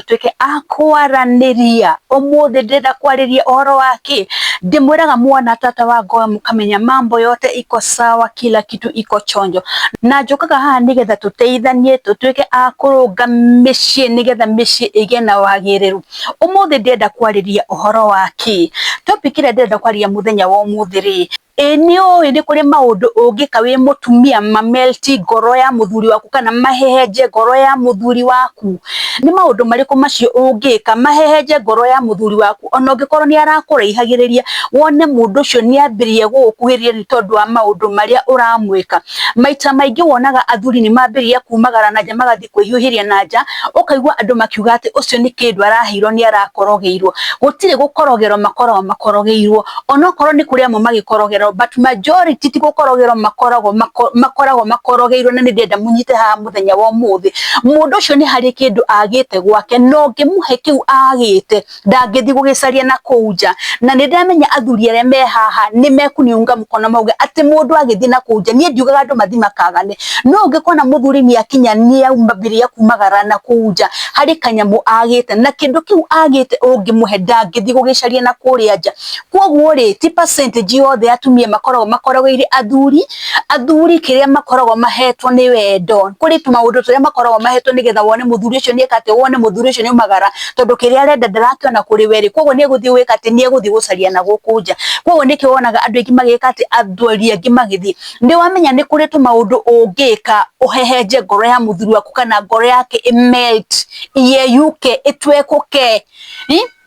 tũtuĩke a kwaranĩria ũmũthĩ ndĩrenda kwarĩria ũhoro wa kĩ ndĩmwĩraga mwana tata wa ngoe mũkamenya mambo yote iko sawa kila kitu iko chonjo na njũkaga haha nĩgetha tũteithanie tũtuĩke a kũrũnga mĩciĩ nĩgetha mĩciĩ ĩgĩe na wagĩrĩru ũmũthĩ ndĩrenda kwarĩria ũhoro wa kĩ topic ĩrĩa ndĩrenda kwarĩria mũthenya wa ũmũthĩ rĩ Ĩ nĩũĩ nĩ kũrĩ maũndũ ũngĩka wĩ mũtumia ma melt ngoro ya mũthuri waku kana mahehenje ngoro ya mũthuri waku? Nĩ maũndũ marĩkũ macio ũngĩka mahehenje ngoro ya mũthuri waku ona ũngĩkorwo nĩ arakũraihagĩrĩria wone mũndũ ũcio nĩ ambĩrĩria gũgũkuhĩrĩria nĩ tondũ wa maũndũ marĩa ũramwĩka? Maita maingĩ wonaga athuri nĩ mambĩrĩria kumagara na nja magathiĩ... kwĩhiũhĩria na nja ũkaigua andũ makiuga atĩ ũcio nĩ kĩndũ araheirwo nĩ arakorogeirwo gũtirĩ gũkorogerwo makoragwo makorogeirwo onokorwo nĩ kũrĩ amwe magĩkorogerwo but majority ti gũkorogerwo makoragwo makoragwo makorogeirwo na nĩ ndĩrenda mũnyite haha mũthenya wa ũmũthĩ mũndũ ũcio nĩ harĩ kĩndũ agĩte gwake na ũngĩmũhe kĩu agĩte ndangĩthiĩ gũgĩcaria na kũu nja na nĩ ndamenya athuri arĩa me haha nĩ mekuniunga mkono mauge atĩ mũndũ agĩthiĩ na kũu nja niĩ ndiugaga andũ mathiĩ makagane no ũngĩkona mũthuri nĩ akinya nĩ aumambĩria kumagara na kũu nja harĩ kanyamũ agĩte na kĩndũ kĩu agĩte ũngĩmũhe ndangĩthiĩ gũgĩcaria na kũrĩa nja kwoguo rĩ ti percentage yothe ya atumia makoragwo makoragĩire athuri Athuri kĩrĩa makoragwo mahetwo nĩ wendo, kũrĩ tũmaũndũ tũrĩa makoragwo mahetwo nĩgetha wone mũthuri ũcio nĩeka atĩ, wone mũthuri ũcio nĩaumagara, tondũ kĩrĩa arenda ndarakĩona kũrĩ we rĩ, koguo nĩegũthiĩ gwĩka atĩ, nĩegũthiĩ gũcaria na gũkũ nja. Koguo nĩkĩo wonaga andũ aingĩ magĩka atĩ, athuri aingĩ magĩthiĩ. Nĩwamenya nĩ kũrĩ tũmaũndũ ũngĩka ũhehenje ngoro ya mũthuri waku kana ngoro yake ĩ melt, ĩyeyũke, ĩtwekũke.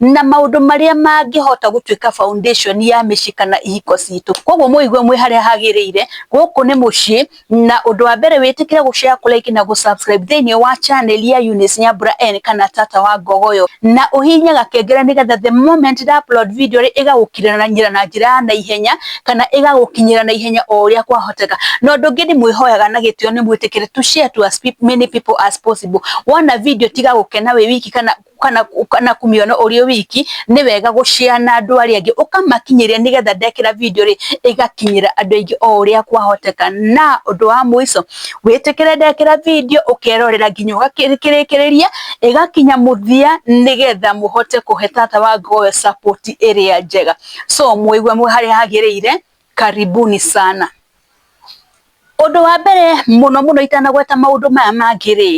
na maũndũ marĩa mangĩhota gũtuĩka foundation ya mĩciĩ kana ihiko citũ. Koguo mũigue mwĩ harĩa hagĩrĩire, gũkũ nĩ mũciĩ, na ũndũ wa mbere wĩtĩkĩre gũ share, kũ like na gũ subscribe thĩiniĩ wa channel ya Eunice Nyambura N kana Tata wa Ngogoyo, na ũhihinye gakengele nĩgetha the moment nda upload video rĩ, ĩgagũkinyĩra na njĩra ya naihenya, kana ĩgagũkinyĩra na ihenya o ũrĩa kwahoteka. Na ũndũ ũngĩ ndĩmwĩhoyaga na gĩtĩo nĩ mwĩtĩkĩre to share to as many people as possible. Wona video tiga gũkena wĩ wiki kana... kana kana kumĩona ũrĩ wiki nĩ wega gũcea na andũ arĩa angĩ ũkamakinyĩria nĩgetha ndekĩra video rĩ ĩgakinyĩra andũ aingĩ o ũrĩa kwahoteka na ũndũ wa mũico wĩtĩkĩre ndekĩra video ũkerorera nginya ũgakĩrĩkĩrĩria ĩgakinya mũthia nĩgetha mũhote kũhe tata wa ngowe support ĩrĩa njega so mũigue harĩa hagĩrĩire Karibuni sana. Ũndũ wa mbere mũno mũno itanagweta maũndũ maya mangĩ rĩ,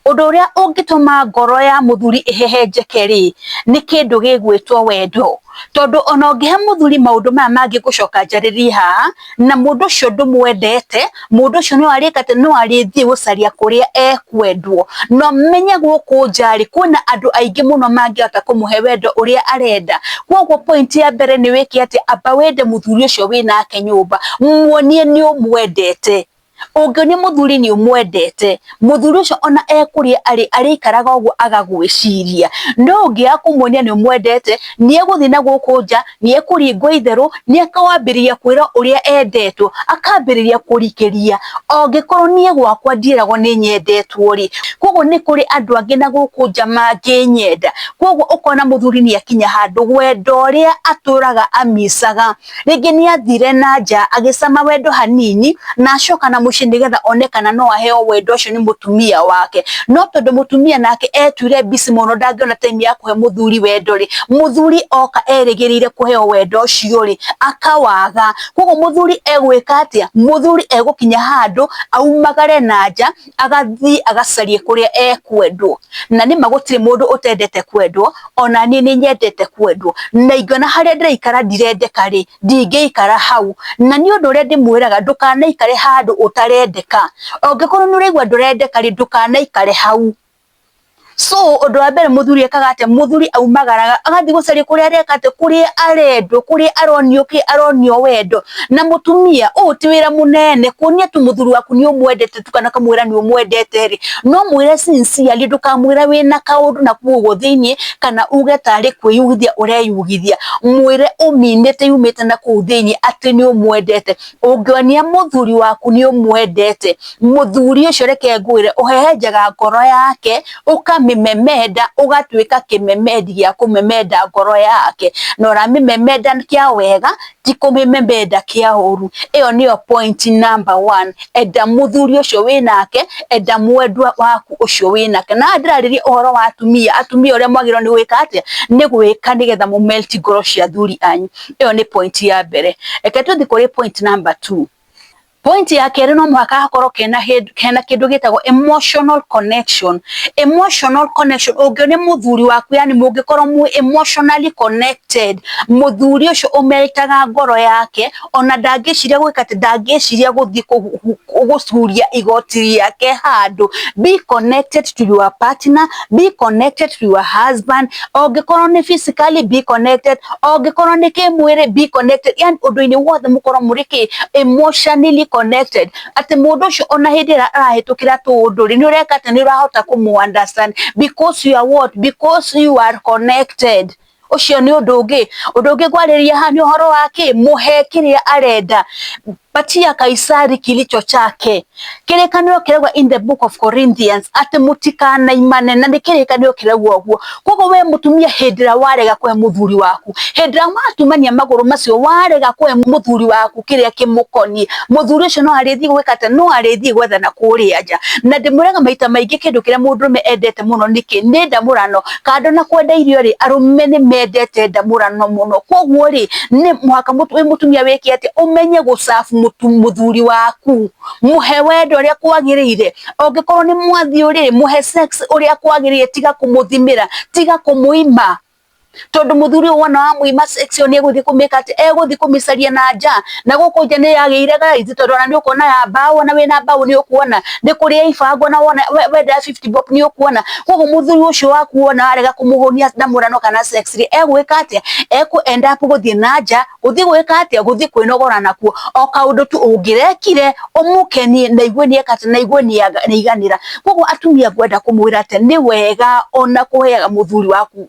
ũndũ ũrĩa ũngĩtũma ngoro ya mũthuri ĩhehenjeke rĩ, nĩ kĩndũ gĩgwĩtwo wendo. Tondũ ona ũngĩhe mũthuri maũndũ maya mangĩ ngũcoka njarĩrie haha, na mũndũ ũcio ndũmwendete. mundu ucio no arikate no arithie gucaria kuria ekwendwo no menye guku njari kwina andu aingi muno mangihota kumuhe wendo uria arenda koguo point ya mbere ni wike ati amba wende muthuri ucio winake nyumba muonie ni umwendete ungioni muthuri ni umwendete mũthuri ũcio ona ekũrĩa arĩ arĩikaraga ũguo agagwĩciria no ũngĩaga kũmuonia nĩ mwendete nĩ egũthiĩ na gũkũ nja nĩ ekũringwo itherũ nĩ akawambĩrĩria kwĩra ũrĩa endetwo akambĩrĩria kũrikĩria ongĩkorwo niĩ gwakwa ndieragwo nĩ nyendetwo rĩ koguo nĩ kũrĩ andũ angĩ na gũkũ nja mangĩnyenda koguo ũkona mũthuri nĩ akinya handũ wendo ũrĩa atũraga amicaga Rĩngĩ nĩ athire na nja agĩcama wendo hanini na acoka na mũciĩ nĩgetha one kana no aheo wendo ũcio nĩ mũtumia wake. No tondũ mũtumia nake etuire busy mũno ndangĩona time ya kũhe mũthuri wendo rĩ, mũthuri oka erĩgĩrĩire kũheo wendo ũcio rĩ, akawaga. Kwoguo mũthuri egwĩka atĩa? Mũthuri egũkinya handũ aumagare na nja. agathiĩ agacarie kũrĩa ekwendwo, na nĩma gũtirĩ mũndũ ũtendete kwendwo, ona niĩ nĩ nyendete kwendwo, na ingĩona harĩa ndĩraikara ndirendeka rĩ, ndingĩikara hau, na nĩ ũndũ ũrĩa ndĩmwĩraga ndũkanaikare handũ ũtarendeka, ũngĩkorwo nĩ ũraigwa ndũrendeka rĩ, ndũkanaikare hau. So ũndũ wa mbere mũthuri ekaga atĩa? Mũthuri aumagaraga agathiĩ gũcaria kũrĩa areka atĩ kũrĩa arendwo, kũrĩa aronio kĩ, aronio wendo. Na mũtumia ũũ ti wĩra mũnene, kuonia tu mũthuri waku nĩ ũmwendete tu kana kamwĩra nĩ ũmwendete rĩ, no mwĩre sincerely, ndũkamwĩra wĩna kaũndũ na kũu ũguo thĩiniĩ, kana uge tarĩ kwĩyugithia ũreyugithia. Mwĩre ũminĩte yumĩte na kũu thĩiniĩ atĩ nĩ ũmwendete. ũngĩonia mũthuri waku nĩ ũmwendete mũthuri ũcio reke ngwĩre ũhehenjaga ngoro yake ũkamĩmemenda ũgatuĩka kĩmemendi gĩa kũmemenda ngoro yake na ũramĩmemenda kĩa wega ti kũmĩmemenda kĩa ũru ĩyo nĩyo point number one enda mũthuri ũcio wĩnake enda mwendwa waku ũcio wĩnake na ndĩrarĩria ũhoro wa atumia atumia ũrĩa mwagĩrĩirwo nĩ gwĩka atĩa nĩ gwĩka nĩgetha mũ melt ngoro cia athuri anyu. ä yo nä point ya mbere reke tå thiä kå rä point number two Point ya kerä no mũhaka hakorwo kena kena kĩndũ gĩtagwo emotional connection emotional connection ũngĩ nĩ mũthuri waku yani mũngĩkorwo mu emotionally connected mũthuri ũcio ũmerĩtaga ngoro yake ona ndangĩciria gwĩka atĩ ndangĩciria gũthiĩ gũcuria igoti rĩake handũ be connected to your partner be connected to your husband ongĩkorwo nĩ physically be connected ongĩkorwo nĩ kĩmwĩrĩ be connected yani ũndũ-inĩ wothe mũkorwo mũrĩ kĩ emotionally connected atĩ mũndũ ũcio ona hĩndĩ ĩrĩa arahĩtũkĩra tũũndũ rĩ nĩ ũreka atĩ nĩ ũrahota kũmũ understand because you are what because you are connected ucio ni undu ungi undu ungi ngwariria ha ni uhoro wa ki muhe kiria arenda patia kaisari kilicho chake kirikaniro kiragwa in the book of Corinthians ati mutikanaimane na ni kirikaniro kiragwa uguo koguo we mutumia hindira warega kwe muthuri waku hindira watumania maguru macio warega kwe muthuri waku kiria kimukonie muthuri ucio no arithie gwika ati no arithie gwethana kuria nja na ndimuraga maita maingi kindu kiria mundurume endete muno niki ni ndamurano kando na kwenda irio rĩ arũme nĩ mendete ndamũrano mũno koguo rĩ nĩ mũhaka wĩ mũtumia wĩke atĩ ũmenye gũcabu mũthuri waku mũhe wendo ũrĩa kwagĩrĩire ũngĩkorwo nĩ mwathiĩ rĩ mũhe sex ũrĩa kwagĩrĩire tiga kũmũthimĩra tiga kũmũima tondũ mũthuri ũyũ wona wamũima sex ĩyo nĩ egũthiĩ kũmĩka atĩ egũthiĩ kũmĩcaria na nja na guku nja ni yagire gaithi tondu ona ni ukuona ya mbao ona wina mbao ni ukuona ni kuria ibango na wona wenda 50 bob ni ukuona koguo muthuri ucio waku wona arega kumuhunia na murano kana sex ri egwika atia eku end up guthie na nja guthie gwika atia guthie kwinogora nakuo o kaundu tu ungirekire umukenie na igwe ni ekate na igwe ni iganira koguo atumia ngwenda kumwira ati ni wega ona kuheaga muthuri waku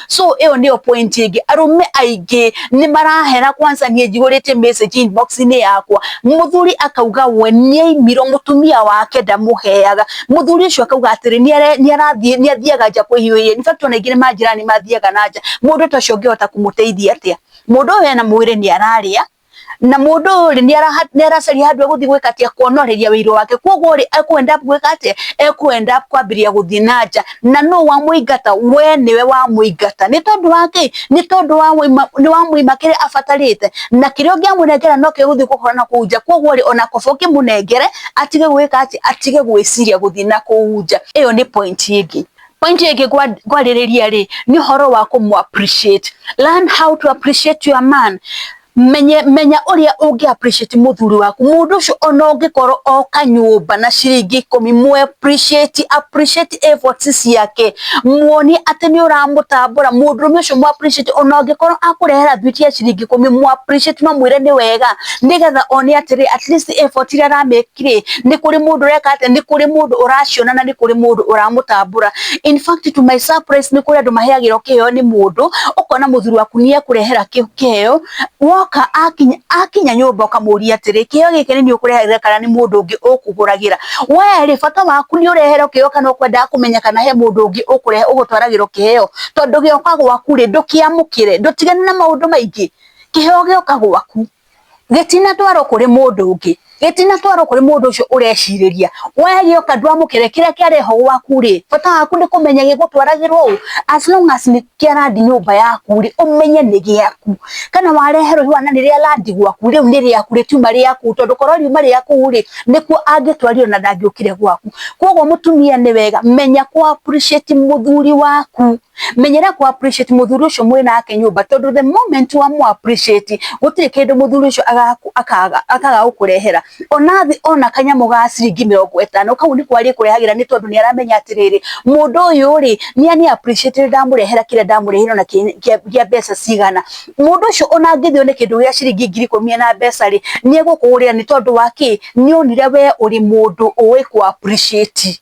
so ĩyo nĩyo point ĩngĩ arũme aingĩ nĩ marahera kwanza niĩ njihũrĩte message inbox inĩ yakwa mũthuri akauga we nĩaimirwo mũtumia wake ndamũheaga mũthuri ũcio akauga atĩrĩ nĩarathiĩ nĩathiaga nja kwĩhiũhĩria in fact ona aingĩ nĩ manjĩra nĩ mathiaga na nja mũndũ ta ũcio ũngĩhota kũmũteithia atĩa mũndũ ũyũ ena mwĩrĩ nĩ ararĩa na mundu uyu ri ni aracaria handu eguthi gwika atia kuonoreria wiru wake koguo ri ekwenda gwika atia ekwenda kwambiria guthi na nja na no wa muingata we niwe wa muingata ni tondu wa ki ni tondu wa ni wa muima kire abatarite na kire ungi amunengera no ke guthi guhora na kuja koguo ri ona kobo ki munengere atige gwika atia atige gwiciria guthi na kuja iyo ni point ingi Point ĩngĩ kwarĩrĩria rĩ nĩ ũhoro wa kũmũ appreciate. Learn how to appreciate your man. Menye, menya ũrĩa ũngĩ appreciate mũthuri waku. Mũndũ ũcio ona ũngĩkorwo oka nyũmba na ciringi ikũmi, mũ appreciate, appreciate efforts ciake. Muonie atĩ nĩ ũramũtambũra. Mũndũrũme ũcio mũ appreciate ona ũngĩkorwo akũrehera thwiti ya ciringi ikũmi, mũ appreciate na ũmwĩre nĩ wega nĩgetha one atĩrĩ at least effort iria aramĩka kire nĩ kũrĩ mũndũ ũreka atĩa nĩ kũrĩ mũndũ ũraciona na nĩ kũrĩ mũndũ ũramũtambũra in fact to my surprise nĩ kũrĩ andũ maheagĩrwo kĩheo nĩ mũndũ ũkona mũthuri waku nĩ ekũrehera kĩ- kĩheo woka akinya akinya nyũmba ũkamũria atĩrĩ kĩheo gĩkĩ nĩ niĩ ũkũrehagĩra kana nĩ mũndũ ũngĩ ũkũgũragĩra we rĩ bata waku nĩ ũreherwo kĩheo kana ũkwendaga kũmenya kana he mũndũ ũngĩ ũkũrehe ũgũtwaragĩrwo kĩheo tondũ gĩoka gwaku rĩ ndũkĩamũkĩre ndũtigane na maũndũ maingĩ kĩheo gĩoka gwaku gĩtinatwarwo kũrĩ mũndũ ũngĩ gĩtinatwarwo kũrĩ mũndũ ũcio ũrecirĩria we gĩoka ndwamũkĩre kĩrĩa kĩareho gwaku rĩ bata waku nĩ kũmenya gĩgũtwaragĩrwo ũ as long as nĩ kĩarandi nyũmba yaku rĩ ũmenye nĩ gĩaku kana wareherwo ihũa na nĩ rĩa landi gwaku rĩu nĩ rĩaku rĩtiuma rĩaku tondũ korwo riuma rĩaku rĩ nĩkuo angĩtwarire na ndangĩũkire gwaku kwoguo mũtumia nĩ wega menya kũ appreciate mũthuri waku. menyera ku appreciate muthuri ucio mwe nake nyumba tondu the moment wa mu appreciate gutire kindu muthuri ucio akaga akaga gukurehera ona thi ona kanyamu ga ciringi mirongo itano kau ni kwari kurehagira ni tondu ni aramenya atiriri mundu uyu ri ni ani appreciate ndamurehera kire ndamurehera na kia mbeca cigana mundu ucio ona ngithio ni kindu gia ciringi ngiri ikumi na mbeca ri ni egukuhurira ni tondu wa ki ni onire we uri mundu uwi ku appreciate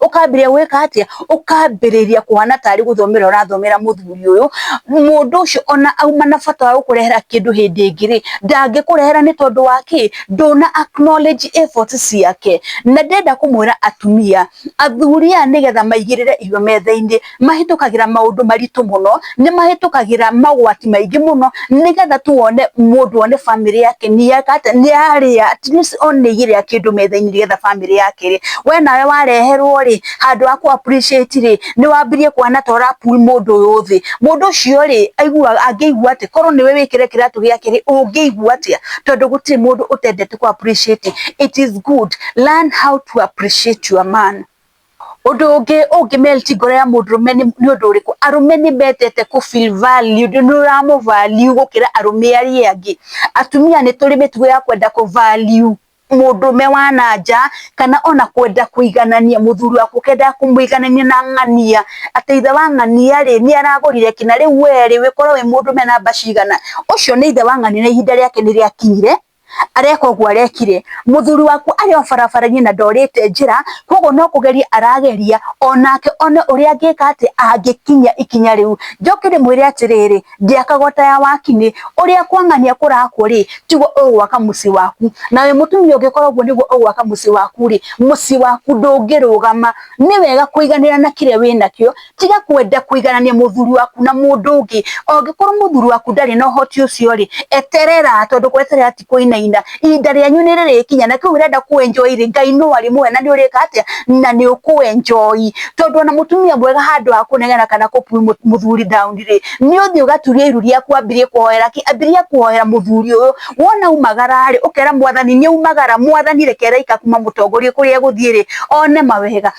ũkambĩrĩria gwĩka atĩa ũkambĩrĩria kũhana tarĩ gũthomera ũrathomera mũthuri ũyũ mũndũ ũcio ona auma na bata wa gũkũrehera kĩndũ hĩndĩ ĩngĩ rĩ ndangĩkũrehera nĩ tondũ wa kĩ ndũna acknowledge efforts ciake na ndenda kũmwĩra atumia athuri aya nĩgetha maigĩrĩre irio metha-inĩ mahĩtũkagĩra maũndũ maritũ mũno, nĩ mahĩtũkagĩra magwati maingĩ mũno nĩgetha tu one mũndũ one bamĩrĩ yake nĩ yeka atĩa, nĩ yarĩa at least one nĩ ĩgĩrĩa kĩndũ metha-inĩ nĩgetha bamĩrĩ yake ĩrĩe. We nawe wareherwo rĩ, handũ ha kũ appreciate rĩ, nĩ wambirie kuona ta ũra pull mũndũ ũyũ thĩ. Mũndũ ũcio rĩ, aiguaga angĩigua atĩa? Korwo nĩwe wĩkĩre kĩratũ gĩake rĩ, ũngĩigua atĩa? Tondũ gũtirĩ mũndũ ũtendete kũ appreciate. It is good learn how to appreciate your man. Ũndũ ũngĩ ũngĩ melt ngoro ya mũndũrũme nĩ ũndũ ũrĩkũ? Arũme nĩ mendete kũ feel valued, nĩ ũramũ value gũkĩra arũme arĩa angĩ. Atumia nĩ tũrĩ mĩtugo ya kwenda kũ value mũndũrũme wa na nja, kana ona kwenda kũiganania, mũthuri waku ũkendaga kũmũiganania na ng'ania, atĩ ithe wa ng'ania rĩ, nĩ aragũrire kĩna, rĩu we rĩ, ũngĩkorwo wĩ mũndũrũme namba cigana? Ũcio nĩ ithe wa ng'ania na ihinda rĩake nĩ rĩakinyire. areka ũguo arekire, mũthuri waku arĩ o barabara-inĩ na ndorĩte njĩra, koguo no kũgeria arageria onake one ũrĩa angĩka atĩa, angĩkinya ikinya rĩu. Njoke ndĩmwĩre atĩrĩrĩ, ndĩakaga o ta ya wakinĩ, ũrĩa kwang'ania kũrakwo-rĩ, tiguo ũgwaka mũciĩ waku. Nawe mũtumia ũngĩkora ũguo nĩguo ũgwaka mũciĩ waku-rĩ, mũciĩ waku ndũngĩrũgama. Nĩ wega kũiganĩra na kĩrĩa wĩnakĩo, tiga kwenda kuiganania muthuri waku na mundu ungi ongikorwo muthuri waku ndari na uhoti ucio ri eterera tondu kweterera ti kuinaina ihinda rianyu ni ririkinya na kiu urenda ku enjoy ri ngai no ari muoya na ni urika atia na ni uku enjoy tondu ona mutumia mwega handu ha kunegena kana ku muthuri down ri ni uthi ugaturia iru riaku ambirie kuhoera ki ambirie kuhoera muthuri uyu wona umagara ri ukera mwathani ni umagara mwathani rekera ikakuma mutongorie kuria guthie ri one mawega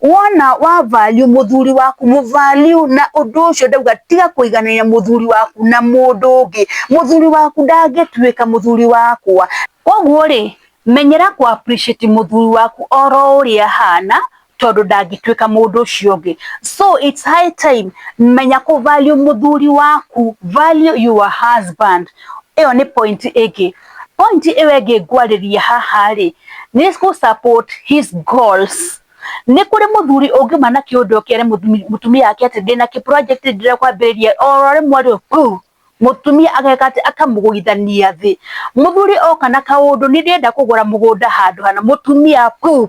Wona wavaliũ mũthuri waku mũvaliũ na ũndũ ũcio ndauga tiga kũiganania mũthuri waku na mũndũ ũngĩ. Mũthuri waku ndangĩtuĩka mũthuri wakwa. Koguo rĩ, menyera kũ appreciate mũthuri waku oro ũrĩa ahana tondũ ndangĩtuĩka mũndũ ũcio ũngĩ. So it's high time menya kũ value mũthuri waku, value your husband. Ĩyo nĩ point ĩngĩ. Point ĩyo ĩngĩ ngwarĩria haha rĩ, nĩ gũ support his goals. Nĩ kũrĩ mũthuri ũngiuma na kĩũndũ ũkere mũtumia wake atĩ ndĩna kĩ project ndĩrenda kwambĩrĩria, oro rĩmwe rĩ buu, mũtumia ageka atĩ, akamũgũithania thĩ. Mũthuri oka na kaũndũ nĩ ndĩrenda kũgũra mũgũnda handũ hana, mũtumia buu,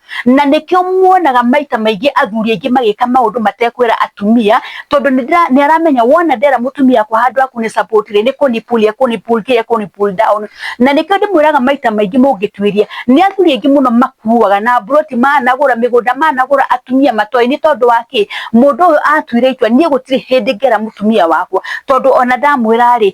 na nĩkĩo muonaga maita maingĩ athuri aingĩ magĩka maũndũ matekwĩra atumia tondũ nĩ aramenya wona ndera mũtumia yakwa handũ ha kũnĩ support rĩ nĩ kũni pull ya kũni pull kĩrĩa kũni pull down na nĩkĩo ndĩmwĩraga maita maingĩ mũngĩtuĩria nĩ athuri aingĩ mũno makuaga na mburoti managũra mĩgũnda managũra atumia matoĩ nĩ tondũ wa kĩ mũndũ ũyũ atuire itua niĩ gũtirĩ hĩndĩ ngera mũtumia wakwa tondũ ona ndamwĩra rĩ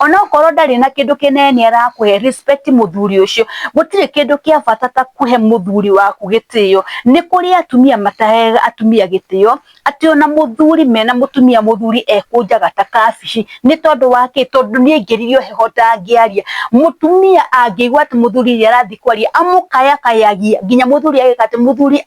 ona okorwo ndarĩ na kĩndũ kĩnene nĩ arakũhe respect mũthuri ũcio. Gũtirĩ kĩndũ kĩa bata ta kũhe mũthuri waku gĩtĩo. Nĩ kũrĩ atumia mataheaga atumia gĩtĩo, atĩ ona mũthuri mena mũtumia mũthuri ekũnjaga ta kabici. Nĩ tondũ wa kĩ? Tondũ nĩ aingĩririo heho ndangĩaria. Mũtumia angĩigua atĩ mũthuri nĩ arathiĩ kwaria amũkayakayagia, nginya mũthuri ageka atĩ, mũthuri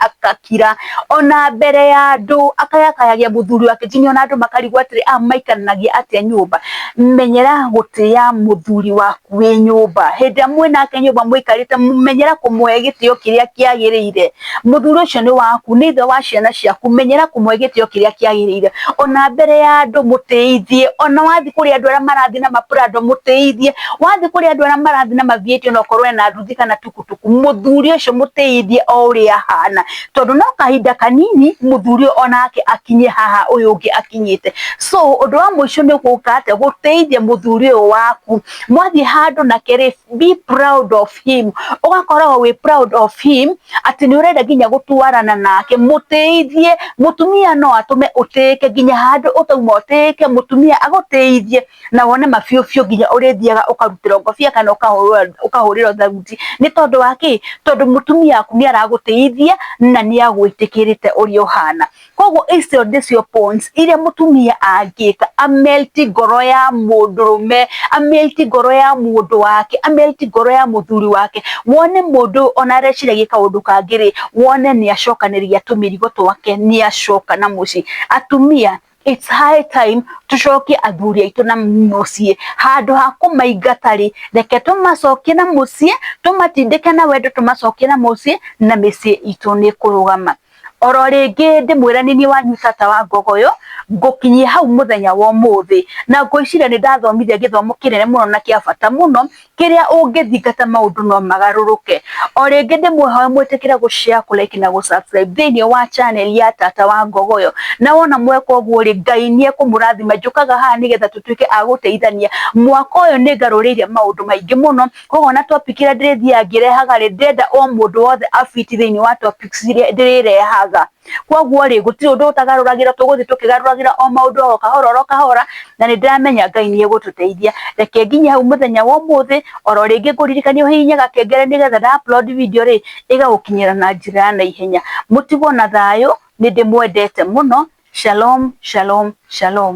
kira ona mbere ya andũ akayakayagia mũthuri wake nginya ona andũ makarigwo atĩrĩ a maikaranagia atĩa nyũmba menyera gũtĩa mũthuri waku wĩ nyũmba hĩndĩ ĩrĩa mwĩ nake nyũmba mũikarĩte menyera kũmũhe gĩtĩo kĩrĩa kĩagĩrĩire mũthuri ũcio nĩ waku nĩ ithe wa ciana ciaku menyera kũmũhe gĩtĩo kĩrĩa kĩagĩrĩire ona mbere ya andũ mũtĩithie ona wathiĩ kũrĩ andũ arĩa marathiĩ na maprado mũtĩithie wathiĩ kũrĩ andũ arĩa marathiĩ na mavieti ona okorwo ena nduthi kana tukutuku muthuri ucio mutiyithie o uria ahana tondu no kahinda kanini muthuri uyu onake akinye haha uyu ungi akinyite so undu wa muico ni guka ate gutiyithie muthuri uyu waku mwathie handu nake ri be proud of him ugakoragwo wi proud of him ati ni urenda nginya gutwarana nake mutiyithie mutumia no atume utiyike nginya handu utauma utiyike mutumia agutiyithie na wone mabiũbiũ nginya ũrĩthiaga ũkarutĩrwo ngobia kana ũkahũrĩrwo ũkahũrĩrwo tharuti nĩ tondũ wa kĩ tondũ mũtumia waku nĩ aragũtĩithia na nĩ agwĩtĩkĩrĩte ũrĩa ũhana koguo icio nĩcio points iria mũtumia angĩka amelti ngoro ya mũndũrũme amelti ngoro ya mũndũ wake amelti ngoro ya mũthuri wake wone mũndũ ũyũ ona areciragia kaũndũ kangĩ rĩ wone nĩ acokanĩria tũmĩrigo twake nĩ acoka na mũciĩ atumia It's high time tucokie athuri aitũ na muciĩ handũ ha kũmaingata rĩ reke tũmacokie na muciĩ tũmatindĩke na wendo tũmacokie na muciĩ na mĩciĩ itũ nĩ kũrũgama oro rĩngĩ ndĩmwĩra nĩ niĩ wanyu tata wa ngogoyo ngũkinyia hau mũthenya wa ũmũthĩ na ngwĩciria nĩ ndathomithia gĩthomo kĩnene mũno na kĩa bata mũno kĩrĩa ũngĩthingata maũndũ no magarũrũke. O rĩngĩ ndĩmwĩhoe mwĩtĩkĩre gũshare, kũlike na gũsubscribe thĩinĩ wa channel ya Tata wa Ngogoyo. Na wona mweka ũguo rĩ, Ngai nĩekũmũrathima. Njũkaga haha nĩgetha tũtuĩke a gũteithania. Mwaka ũyũ nĩngarũrĩire maũndũ maingĩ mũno, koguo ona topic ĩrĩa ndĩrĩthiaga ngĩrehaga rĩ, ndĩrenda o mũndũ wothe a fit thĩinĩ wa topics iria ndĩrĩrehaga. Kwoguo rĩ, gũtirĩ ũndũ ũtagarũragĩrwo, tũgũthiĩ tũkĩgarũragĩra o maũndũ oro kahora oro kahora, na nĩ ndĩramenya Ngai nĩ egũtũteithia. Reke nginye hau mũthenya wa ũmũthĩ, oro rĩngĩ ngũririkanie ũhihinye gakengere nĩgetha nda upload video rĩ, ĩgagũkinyĩra na njĩra ya naihenya. Mũtigwo na thayũ, nĩ ndĩmwendete mũno. Shalom, shalom, shalom.